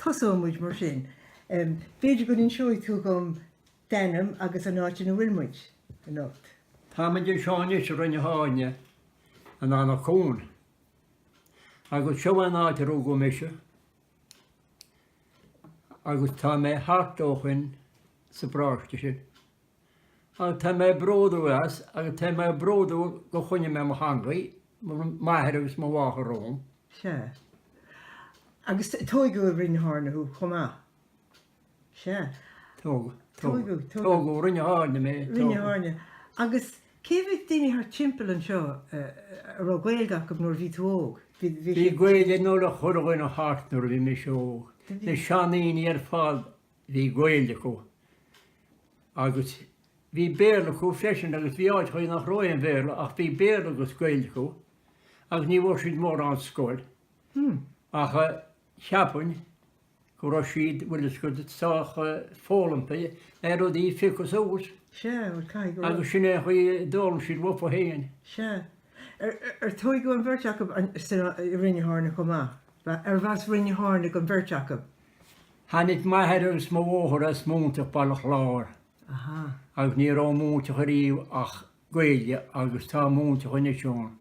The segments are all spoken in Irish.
Tosóimid mar sin. B'fhéidir go n-inseoidh tú dhom d'ainm agus an áit ina bhfuil muid anocht. Táimid anseo anois i Rinn na hAirne, in Anach Cuain. Agus seo é an áit a rugadh mise. Agus tá mé thart ó shoin sa bparáiste sin. Agus tá mé bródúil as agus tá mé bródúil gur choinnigh mé mo theangaidh, m'athair agus mo mháthair romham. Sea. Agus tóigeadh i Rinn na hAirne thú chomh maith? Sea. Tógadh, tógadh, tógadh i Rinn na hAirne mé, tógadh. Rinn na hAirne. Agus cé a bhí, daoine thart timpeall anseo a raibh Gaeilg acu nuair a bhí tú óg? Bhí, bhí. Bhí Gaeilg ag chuile dhuine thart nuair a bhí mise óg. Na seandaoine ar fad bhí Gaeilg acu. Agus bhí Béarla acu freisin agus bhí áiteachaí nach raibh aon Bhéarla ach bhí Béarla agus Gaeilg acu. Agus ní bhfuair siad mórán scoil. Ach. cheapfainn go raibh siad, bhfuil fhios agat, sách foghlamtha ar rudaí a phiocadh suas. Sea, bhuel, caithfidh go raibh. Agus sin é an chaoi a d'fhoghlaim siad uafu fhéin. Sea. Ar tóigeadh an bheirt acu ansin i Rinn na hAirne chomh maith? Arbh as Rinn na hAirne don bheirt acu. Tháinig m'athair agus mo mháthair as Móinteach Bhaile Chláir. Aha. Agus ní raibh i Móinteach ariamh ach Gaeilge agus tá i Móinteach anois ann.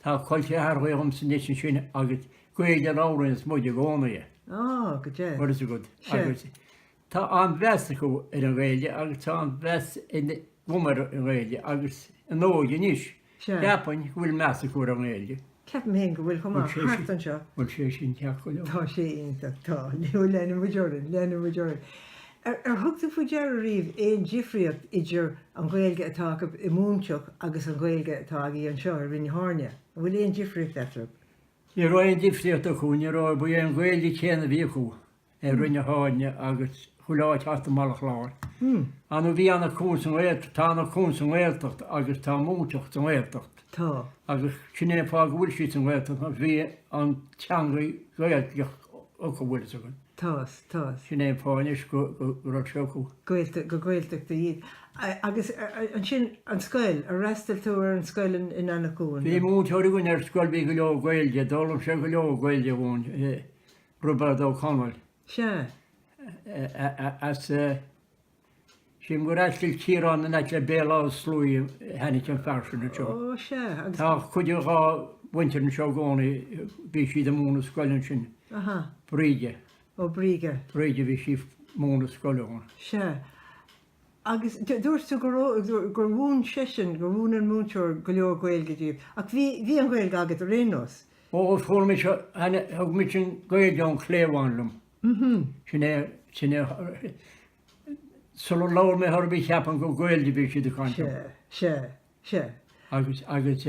Tá col ceathrachaí agamsa anois ansin agus Gaeilge a labhraíonns muid i gcónaí. Ah, go deimhin. What is a good? Agus tá an-mheas acu ar an Ghaeilge agus tá an-mheas agam ar an Ghaeilge agus an óige anois. Cheapfainn go bhfuil meas acu ar an nGaeilge. Ceapaim féin go bhfuil chomh maith thart anseo. Bhuel, sé sin ceart go leor. Tá sé iontach, tá. Now, leanfaidh muid orainn, leanfaidh muid orainn. Ar thug tú faoi deara riamh aon difríocht idir an Ghaeilge atá acu i Móinteach agus an Ghaeilge atá agaibh anseo i Rinn na hAirne? An bhfuil aon difríocht eatarthu? Ní raibh aon difríocht acu, ní raibh, ba í an Ghaeilge chéanna a bhí acu. i Rinn na hAirne agus chuile áit thart i mBaile Chláir. An, bhí Anach Cuain sa nGaeltacht, tá Anach Cuain sa nGaeltacht agus tá Móinteach sa nGaeltacht. Tá. Agus sin é an fáth go bhfuil siad sa nGaeltacht ach bhí an teanga Gaeilge acu bhfuil fhios againn. Tá fhios, tá fhios. Sin é an fáth anois go raibh sé acu. Gaeltacht, gur Gaeltachtaí iad. Agus ansin an scoil, ar fhreastail tú ar an scoil in Anach Cuain? Bhí múinteoir againn ar scoil bhí go leor Gaeilge, d'fhoghlaim sé go leor Gaeilge uainn. Robert O'Connell. Sea, as sin gur as Cill Chiaráin in aice le Béal Átha Sluaigh a tháinig an fear sin anseo. Ó, sea, agus. Tá cuid dhá mhuintir anseo i gcónaí, bhí siad ag múineadh scoile ansin. Aha. Bríde. Ó, Bríde. Bríde, bhí sí ag múineadh scoile ann. Sea. Agus dúirt tú gur mhúin seisean, gur mhúin an múinteoir go leor Gaeilge daoibh. Ach bhí an Ghaeilge agat ar aon nós? Ó, fuair mise, thug mise an Ghaeilge ón chliabhán liom. Sin é, sin é, sular labhair mé hoirbh cheapainn gur Gaeilge a bhí siad ag caint liom. Sea, sea, sea. Agus, agus.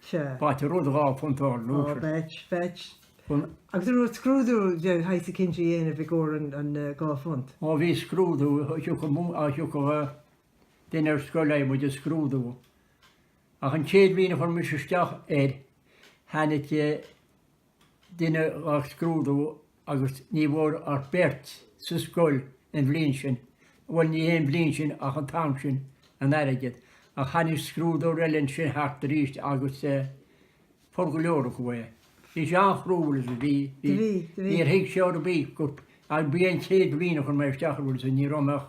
Sea. B'ait an rud dhá phunt a fháil. Á, b'ait, b'ait. Agus an raibh scrúdú de shaghas eicínt le déanamh i gcomhair an dhá phunt? Ó bhí scrúdú, thiocfadh duine ar scoil le muid a scrúdú. Ach an chéad bhliain a chuir mise isteach air, tháinig. duine ag scrúdú agus ní bhfuair ach beirt sa scoil an bhliain sin, bhuel ní hé an bhliain sin ach an t-am sin, an airgead. Ach tháinig scrúdóir eile ansin thart aríst agus fuair go leor acu é. Bhí sé an-chroíúil agus bhí, bhí, bhí, níor thuig sé ar bith go, ach b'í an chéad bhliain a chuir mé isteach air agus ní raibh mé ach,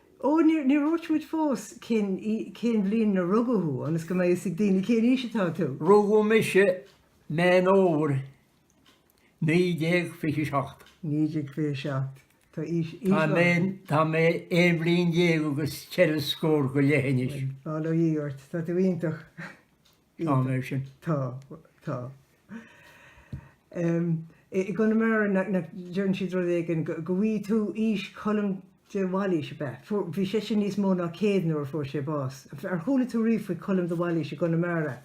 Ó, níor dhúirt muid fós cén bhliain a rugadh thú, ionas go mbeidh fhios ag daoine cén aois atá tú! Rugadh mise Meán Fómhair 1927. 1927. Tá aois láidir. Tá mé aon bhliain déag agus ceithre scór go leith anois. Bhuel, bail ó Dhia ort, tá tú iontach! Tá mé sin. Tá. Tá. I gConamara, deireann siad rud éigin, go bhfaighidh tú aois Cholm de Bhailís, ab ea? Bhí seisean níos mó ná céad nuair a fuair sé bás. Ar chuala tú riamh faoi Cholm de Bhailís i gConamara?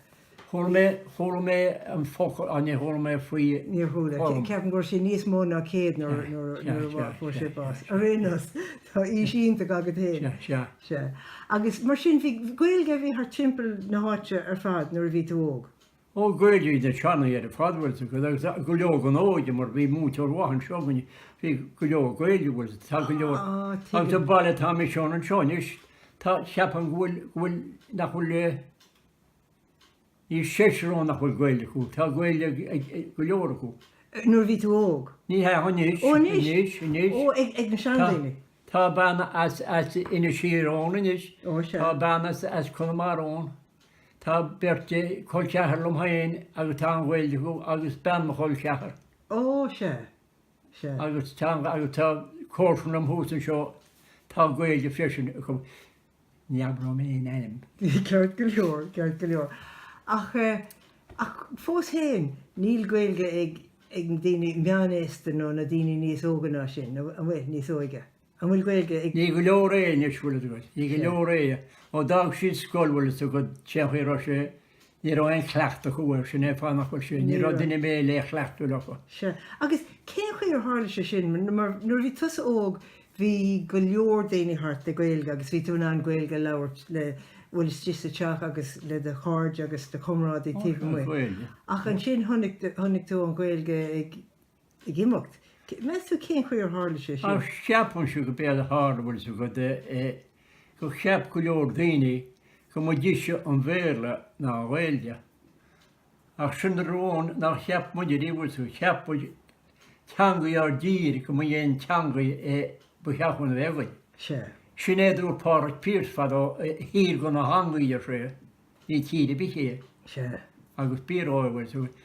Chuala mé, chuala mé an focal ach níor chuala mé faoi Cholm. Níor chuala. Ceapaim go raibh sé níos mó ná céad nuair a fuair sé bás. Ar aon nós, tá aois iontach agat fhéin. Sea. Sea. Agus mar sin, bhí Gaeilge a bhí thart timpeall na háite ar fad nuair a bhí tú óg? Ó, Gaeilge a bhí ag an tsean-aois ar fad, bhfuil 'fhios agat, agus go leor den óige, mar bhí múinteoir maith anseo againne, bhí go leor Gaeilge, bhfuil 'fhios agat, tá go leor. Á, tuigim. Agus an baile atá mise ann anseo anois, tá, cheapaim go bhfuil, go bhfuil, nach bhfuil eh. Seisear ann nach bhfuil Gaeilge acu, tá Gaeilge ag go leor acu. Nuair a bhí tú óg? Ní hea, anois, anois, anois. Ó, ag na seandaoine? Tá bean as Inis Oírr ann anois, tá bean as Conamara ann, tá beirt chol ceathar liom féin agus tá an Ghaeilge acu agus bean mo chol ceathar. Ó, sea, sea. Agus tá comharsa liom thuas anseo, tá Gaeilge freisin acu. Ní abróidh mé aon ainm, ceart go leor, ceart go leor, ach eh, ach fós fhéin, níl Gaeilge ag, ag daoine meánaosta nó na daoine níos óga ná sin, nó an bhfuil? Níos óige? An bhfuil Gaeilge ag. Ní go leor é anois, bhfuil a fhios agat, ní go leor é, ó d'fhág siad scoil, bhfuil a fhios agat, téann sé, raibh sé, Ní raibh aon chleachtadh acu air, sin é fánach mar sin. Ní raibh duine ar bith le cleachtadh leo. Sea. Agus cén chaoi ar tharla sé sin? Mar nuair a bhí tusa óg bhí go leor daoine thart le Gaeilge agus bhí tú in ann Gaeilge a labhairt le, bhfuil a fhios agat, istigh sa teach agus le do chairde agus do chomrádaithe taobh amuigh. Ach ansin chonaic tú an Ghaeilge ag. ag imeacht. Meas tú cén chaoi ar tharla sé sin? Ach ceapaimse gob éard a tharla, bhfuil 'fhios a'd e, gur cheap go leor daoine go mba deise an Béarla ná an Ghaeilge. Ach sin an rud nár cheap muide riamh, bhfuil 'fhios a'd, cheap muid teangaidh ár dtír go mba í an teangaidh e ba cheart dúinn a bheith againn. Sea. Sin é a dúirt Pádraig Pearse fadó, tír gan a teangaidh, ar sé, ní tír ar bith é. Sea. Agus b'fhíor dhó é, bhfuil 'fhios a'd.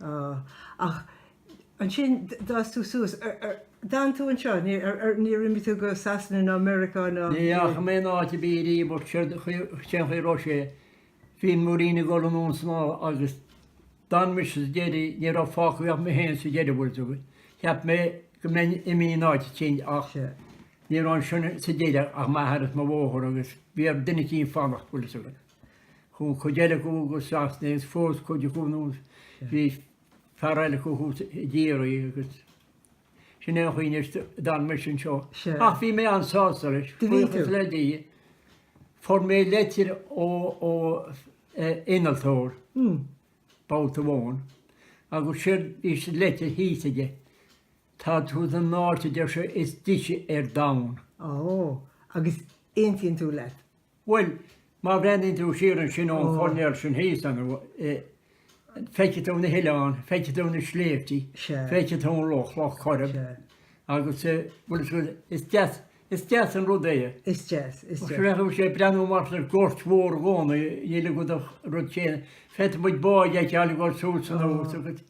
Ó, ach ansin d'fhás tú suas. D'fhan tú anseo, níor imigh tú go Sasana ná Meiriceá ná. Ní dheachaigh mé in áit ar bith ariamh, but séard a chuir, cén chaoi a raibh sé, bhí an mhuirín ag dul anonn ansin agus d'fhan mise go deireadh, ní raibh fágtha ach mé féin sa deireadh bhfuil 'fhios a'd. Cheap mé go mbeinn imithe in áit eicínt ach ní raibh ansin sa deireadh ach m'athair is mo mháthair agus bhí ar duine eicínt fanacht bhfuil 'fhios a'd. Chuaigh cuid eile go Sasana agus phós cuid acu agus bhí fear eile acu thíos i gCiarraí agus sin é an chaoi anois a d'fhan mise anseo. Ach bhí mé an-sásta leis, buíochas le Dia. Fuair mé leitir ó innealtóir, babhta amháin, agus séard a bhí sa leitir thíos aige, tá tú san áit, a deir sé, is deise ar domhan. Ó, agus aontaíonn tú leis? Bhuel, má bhreathnaíonn tú siar ansin ón choirnéal sin thíos anois, feicfidh tú na hoileáin, feicfidh tú na sléibhtí, feicfidh tú an loch, Loch Coirib, agus eh, bhuel is, is deas, is deas an rud é eh. Is deas, is deas. Seachas a bheith ag breathnú amach ar ghort mhór i gcónaí, níl agat ach an rud céanna, féadfaidh muid báid a fheiceáil ag dul suas anonn agus.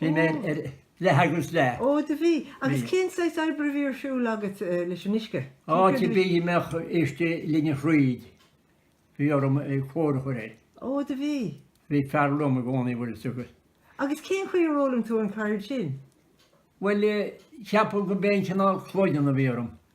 Bhí mé ag plé le huisce. Ó, do bhí. Agus cén saghas oibre a bhí ar siúl agat leis an uisce? Áit ar bith a mbeadh uisce ligean thríd, bhí orm cóir a chur air. Ó, do bhí. Bhí fear liom i gcónaí, bhfuil 'fhios agat. Agus cén chaoi ar fhoghlaim tú an cheird sin? Bhuel, ceapaim gurb é an cineál cloigeann a bhí orm.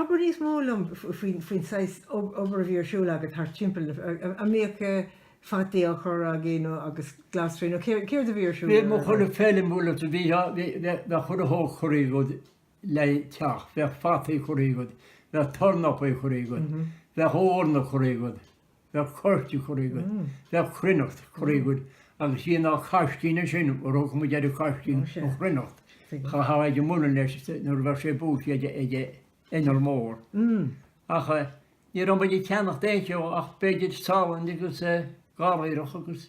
Abair níos mó liom faoin saghas obair a bhí ar siúl agat thart timpeall. An mbíodh fataí á chur agaí nó agus glasraí nó céard a bhí ar siúl? Bhuel má tá feilm bhaile agat bheadh chuile shórt curtha agat le teach, bheadh fataí curtha agat, bheadh tornapaí curtha agat, bheadh eorna curtha agat. Bheadh coirce curtha agat, bheadh cruithneacht curtha agat agus bhí na caiscín ansin, thabharfadh muid ar an gcaiscín an chruithneacht, chaithfeá dhul ag an muileann leis nuair a bheadh sé buailte ag inneall mór. Ach ní raibh muid ag ceannach aon cheo ach b'fhéidir salann agus garraí agus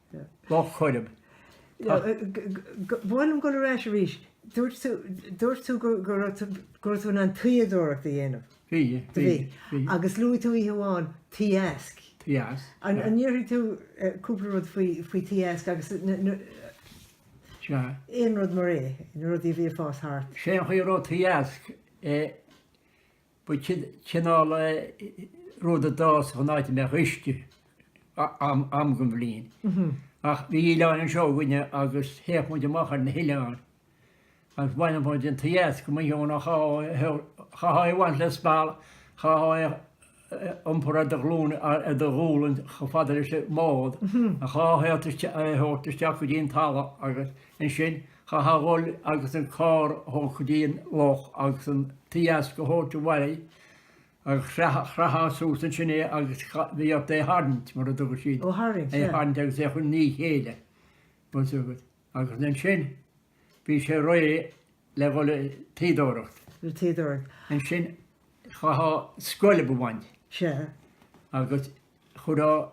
Loch Coirib. Tá. Ba mhaith liom dul ar ais arís. Dúirt tú go raibh tú in ann tuíodóireacht a dhéanamh. Bhí, bhí, bhí. Agus luaigh tú oíche amháin an t-easc. T-easc. An ndéarfaidh tú cúpla rud faoin t-easc agus aon rud mar é, na rudaí a bhíodh ag fás thart? Sé an chaoi a raibh an t-easc Ba chineál rud a d'fhásfadh in áit a mbeadh uisce am den bhliain. Ach bhí oileáin anseo againne agus théadh muid amach ar na hoileáin agus bhaineadh muid an t-easc amuigh ann ach chaithfeá é a bhaint le speal, chaithfeá é a iompar ar do ghlúine, ar do ghualainn chomh fada leis an mbád, chaithfeá é a thabhairt isteach go dtí an talamh agus ansin, Chaithfeá a ghoil agus an carr a thabhairt go dtí an loch agus an t-easc a thabhairt abhaile agus chraithfeá suas ansin é agus bhí ort é tharraingt, mar a thugadh siad, Ó tharraingt, é yeah. tharraingt agus é a chur ina chéile, bhfuil fhios agat. Agus ansin, bhí sé réidh le dhul ag tuíodóireacht. Le tuíodóireacht. Ansin, chaithfeá scoilb a bhaint. Sea. Agus chuirfeá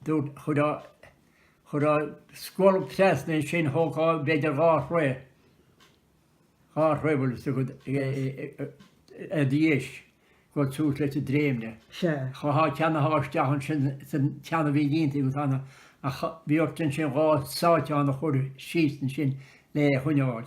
Chuirfeá scolb trasna ansin, thógfá b'fhéidir dhá throigh, dhá throigh bhfuil fhios agat, arís, go tús leis an dréimne. Chaithfeá an ceann a shá isteach ansin san ceann a bhí déanta agat ann, ach bhí ort ansin dhá sáiteán a chur síos ansin lena choinneáil.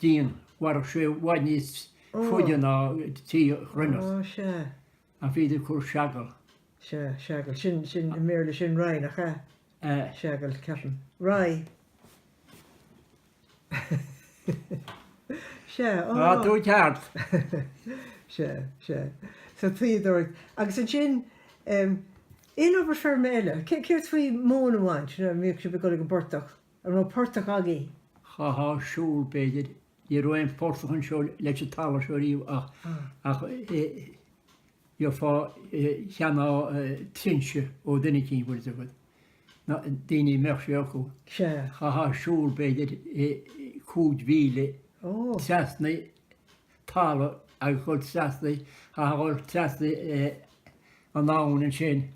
díon. Mhairfeadh sé i bhfad níos faide ná tuí chruithneacht. An féidir cur seagal? Sea, seagal. Sin, sin, i mBéarla sin rye, nach ea? Seagal, ceapaim. Rye. Sea, á. Tá tú ceart. Sea, sea. So tuíodóir. Agus ansin, aon obair feirme eile? Céard faoi móin a bhaint, bhíodh sibh ag dul ag an bportach? Ní raibh aon phortach againn. Chaithfeá siúl, b'fhéidir. Ní raibh aon phortach anseo leis an talamh seo riamh ach gheofá ceann nó trinse ó dhuine eicínt, bhfuil fhios agat. Na daoine a mbeadh sé acu, chaithfeá siúl b'fhéidir cúig mhíle trasna talamh agus dhul trasna, chaithfeá dhul trasna an abhainn ansin.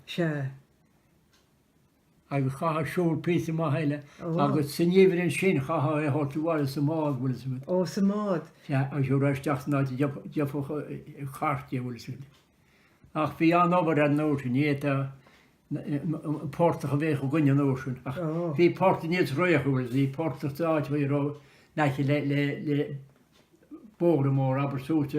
agus chaithfeá siúl píosa maith eile agus sa ngeimhreadh ansin chaithfeá é a thabhairt abhaile sa mbád, bhfuil 'fhios agat. Ó, sa mbád. Sea, agus é a thabhairt isteach san áit a dtiocfadh cairt dhe, bhfuil 'fhios agat. Ach bhí an-obair air an uair sin, ní hé an portach a bhíodh againne an uair sin ach bhí portaigh níos réidhe, bhfuil 'fhios a'd, bhí portach sa áit a raibh in aice le, le, le. bóthar mór, abair suas,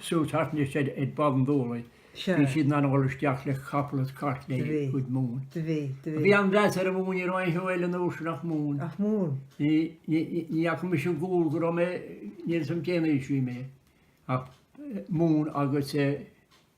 suas thart anois ar Bhaile an Dúlaigh, bhí siad in ann a dhul isteach le capall is cairt lena gcuid móin. Do bhí, do bhí. Bhí an-mheas ar an mhóin, ní raibh aon cheo eile an uair sin ach móin. Ach móin. Ní, ní, ní fhaca mise an gual go raibh mé, níl 'fhios a'm cén aois a bhí mé ach móin agus eh,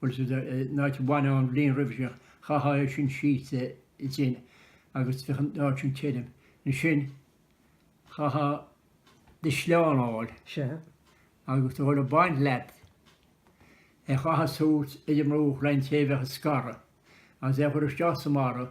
Bhuel, an áit a baineadh an bhliain roimhe sin, chaithfeá é sin síos i dtinn agus bheadh an áit sin tirim. Ansin, chaithfeá do shleán a fháil agus a dhul ag baint leat, é a chaitheamh suas idir dhá láimh an té a bheadh ag scaradh, agus é a chur isteach sa mbarra.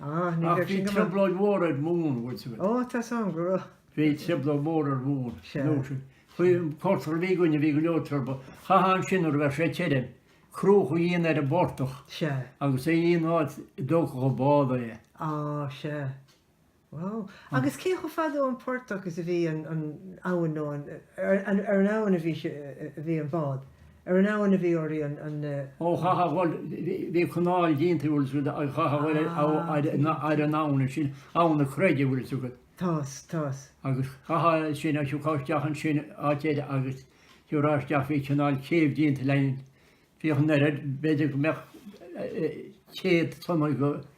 Ah, ní raibh sin go maith. Ach bhí trioblóid mhór ar mhóin, bhfuil 'fhios agat. Ó, tá's a'm go raibh. Bhí trioblóid mhór ar mhóin an uair sin. Chuaigh an portach a bhí againne, bhí go leor trioblóid. Chaithfeá ansin nuair a bheadh sé tirim, cruach a dhéanamh ar an bportach agus é a dhéanamh in áit a dtógfadh an bád é. Á, sea. Wow. Agus cé chomh fada ón bportach is a bhí an abhainn nó an, ar an abhainn a bhí an bád? Ar an abhainn a bhí oraí an. Ó chaithfeá a dhul, bhí canáil déanta bhfuil 'fhios agat, chaithfeá a dhul ar an abhainn ansin, Abhainn na Creige bhfuil 'fhios agat. Tá's, tá's. Agus chaithfeá ansin agus thabharfá isteach ansin áit eile agus thabharfá isteach bhí cineál céibh déanta le, bhí an oiread, b'fhéidir go mbeadh céad tonna go,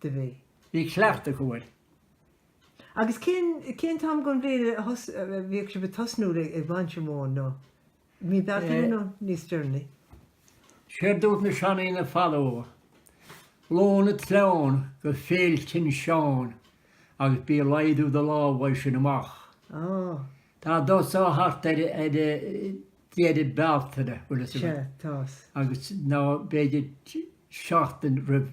do bhí. Bhí cleachtadh acu air. Agus cén, cén t-am gon bhliain a thos, a bhíodh sibh ag tosnú le, ag baint an mhóin nó? Mí Bealtaine nó níos deireanaí? Séard dúirt na seandaoine fadó, lán an tsleáin go Féil tSin Seáin agus bí ag laghdú do lámh as sin amach. Ó. Dá dtosófá thart ar, ar deireadh Bealtaine, bhfuil 'fhios agat. Sea, tá's. Agus nó b'fhéidir seachtain roimh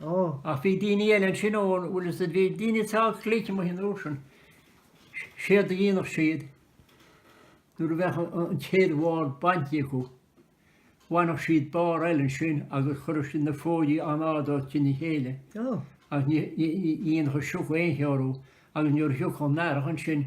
Ach bhí daoine eile ansin ó, bhuel, is dóigh, bhí daoine sách glic amuigh an uair sin, séard a dhéanfadh siad, nuair a bheadh an chéad bhall bainte acu, bhaineadh siad barr eile ansin agus chuireadh siad na fóidí in airde os cionn a chéile agus ní dhéanfadh an sioc aon cheo orthu agus nuair a thiocfadh an earrach ansin,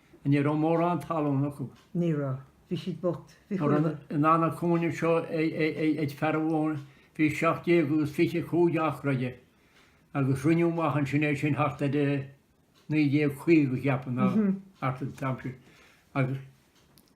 Ní raibh mórán talún acu. Ní raibh. Bhí siad bocht. Bhí Mura chuile. an, an, an cúinne seo ag fear amháin, bhí seacht gcéad agus fiche cúig acra aige agus roinneadh amach ansin é sin thart ar 1950, cheapfainn, nó thart ar an t-am sin, agus.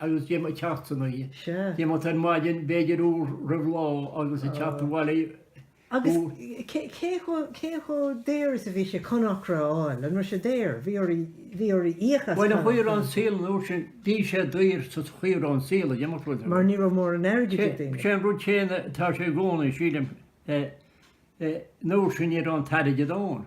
agus ag imeacht san oíche. Sea. Ag imeacht ar maidin, b'fhéidir uair roimh lá agus ag teacht abhaile Agus cé chomh daor is a bhí sé conacra a fháil? An raibh sé daor? Bhí orainn íoc as Bhuel, de réir an saol an uair sin, bhí sé daor, de réir an saol, ag imeacht rud ar bith. Mar ní raibh mórán airgid ag daoine. Sé an rud céanna atá sé i gcónaí, sílim, an uair sin ní raibh an t-airgead ann.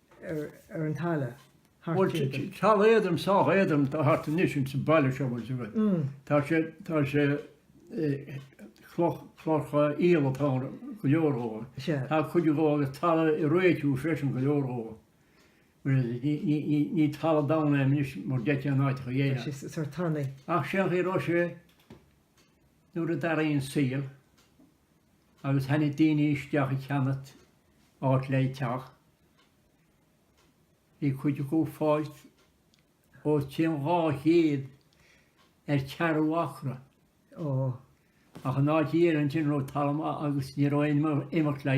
ar an talamh thart timpeall. Bhuel, tá talamh éadrom, sách éadrom, atá thart anois ins an baile seo, bhuel, tá sé, tá sé, cloch, clocha aoil atá ann, go leor dhó. Tá cuid dhó agus talamh riteach freisin, go leor dhó. Ní talamh domhain é anois mar a déarfá in áiteacha domhain. Tá sé sórt tanaí. Ach sin an chaoi a raibh sé nuair a d'athraigh an saol. agus tháinig daoine isteach a cheannacht áit le teach. Bhí cuid acu ag fáilt os cionn dhá chéad ar ceathrú acra ó, ach an áit thiar ansin a raibh talamh maith agus ní raibh aon imeacht le.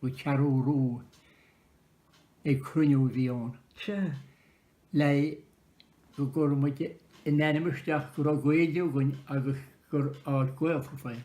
nó cearúrú ag cruinniú a bhí ann. Sea. Le go gcuirfeadh muid an t-ainm isteach go raibh Gaeilge againn agus gur áit Ghaeltachta é.